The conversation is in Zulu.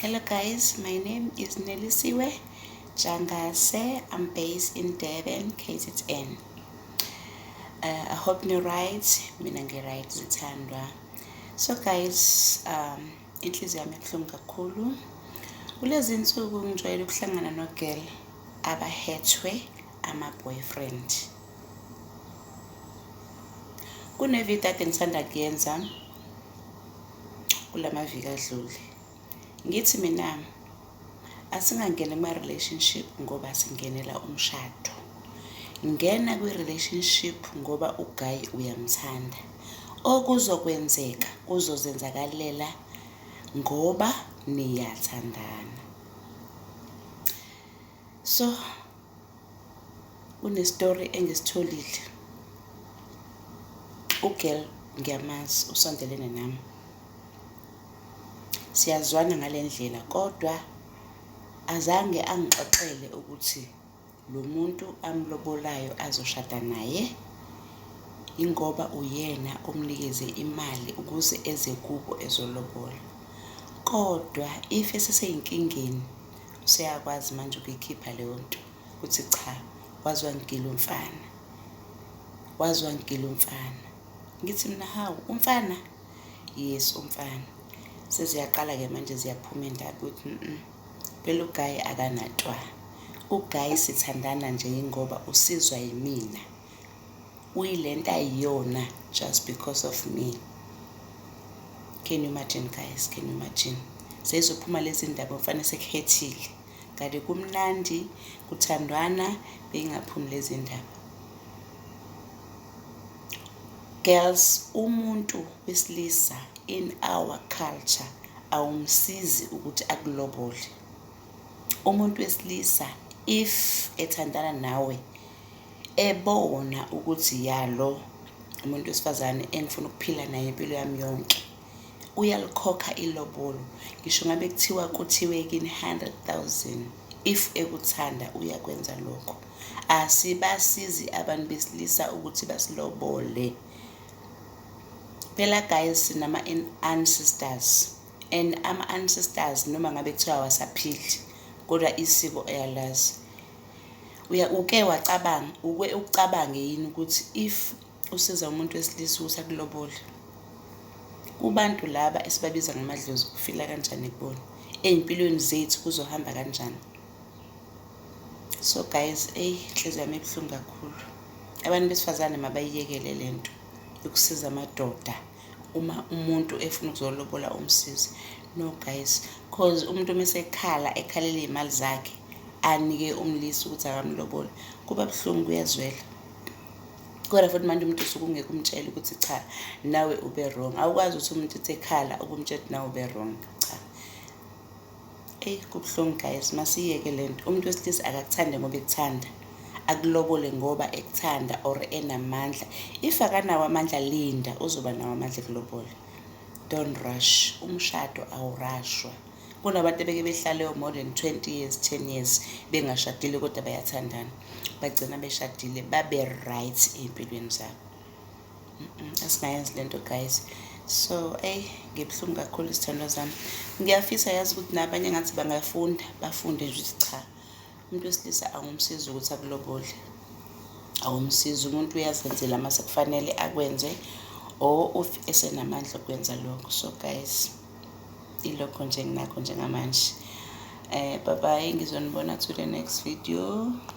Hello guys, my name is Nelisiwe Jangase. I'm based in Durban, KZN. Uh, I hope you're right. Mina ngi right zithandwa. So guys, um inhliziyo yami ibuhlungu kakhulu. Kulezi insuku ngijwayele ukuhlangana no girl abahethwe ama boyfriend. Kunevideo ade ngisanda kuyenza kulamaviki adlule ngithi mina asingangeni kuma relationship ngoba singenela umshado ngena kwi relationship ngoba uguy uyamthanda okuzokwenzeka kuzozenzakalela ngoba niyathandana So kunestory engisitholile ugirl ngiyamazi usondelene nami siyazwana ngale ndlela kodwa azange angixoxele ukuthi lo muntu amlobolayo azoshada naye ingoba uyena omnikeze imali ukuze eze kubo ezolobola kodwa if eseseyinkingeni useyakwazi manje ukuyikhipha leyo nto ukuthi cha waze wangigila umfana waze wangigila umfana ngithi mina hawu umfana yes umfana seziyaqala-ke manje ziyaphuma indaba ukuthi mm phela ugayi akanatwa ugayi sithandana nje yingoba usizwa yimina uyilento ayiyona just because of me can you imagine guys can you imagine seyizophuma lezi ndaba mfane sekuhethile kade kumnandi kuthandwana beyingaphumi lezi ndaba girls umuntu wesilisa in our culture awumsizi ukuthi akulobole umuntu wesilisa if ethandana nawe ebona ukuthi ya lo umuntu wesifazane engifuna ukuphila naye impilo yami yonke uyalikhokha ilobolo ngisho ngabe kuthiwa kuthiwe kini 100,000 if ekuthanda uyakwenza lokho asibasizi abantu besilisa ukuthi basilobole phela guys sinama ancestors and ama ancestors noma ngabe kuthiwa wasaphili kodwa isiko eyalazi uke wacabanga uke ucabange yini ukuthi if usiza umuntu wesilisa ukuthi akulobole kubantu laba esibabiza ngamadlozi kufila kanjani kubona ey'mpilweni zethu kuzohamba kanjani so guys eyi inhliziyo yami ebuhlungu kakhulu abantu besifazane mabayiyekele le nto yokusiza amadoda uma umuntu efuna ukuzolobola umsizi no guys cause umuntu uma esekhala ekhalela iy'mali zakhe anike umlisa ukuthi akamlobole kuba buhlungu kuyazwela kodwa futhi manje umuntu usuke ungeke umtshele ukuthi cha nawe ube wrong awukwazi ukuthi umuntu uthi ekhala ukumtshela ukuthi nawe ube wrong cha Eyi kubuhlungu guys masiyeke le nto umuntu wesilisa akakuthande ngoba ekuthanda akulobole ngoba ekuthanda or enamandla if akanawo amandla linda uzoba nawo amandla ekulobole don't rush umshado awurashwa kunabantu ebeke behlaleyo more than 20 years 10 years bengashadile kodwa bayathandana bagcina beshadile babe right ey'mpilweni zabo asingayenzi le nto guys so eyi ngibuhlungu kakhulu izithandwa zami ngiyafisa yazi ukuthi nabanye ngathi bangafunda bafunde nje ukuthi cha umuntu wesilisa angumsizi ukuthi akulobole awumsizi umuntu uyazenzela uma sekufanele akwenze or of esenamandla okwenza lokho so guys ilokho nje nginakho njengamanje um eh, bye bye ngizonibona to the next video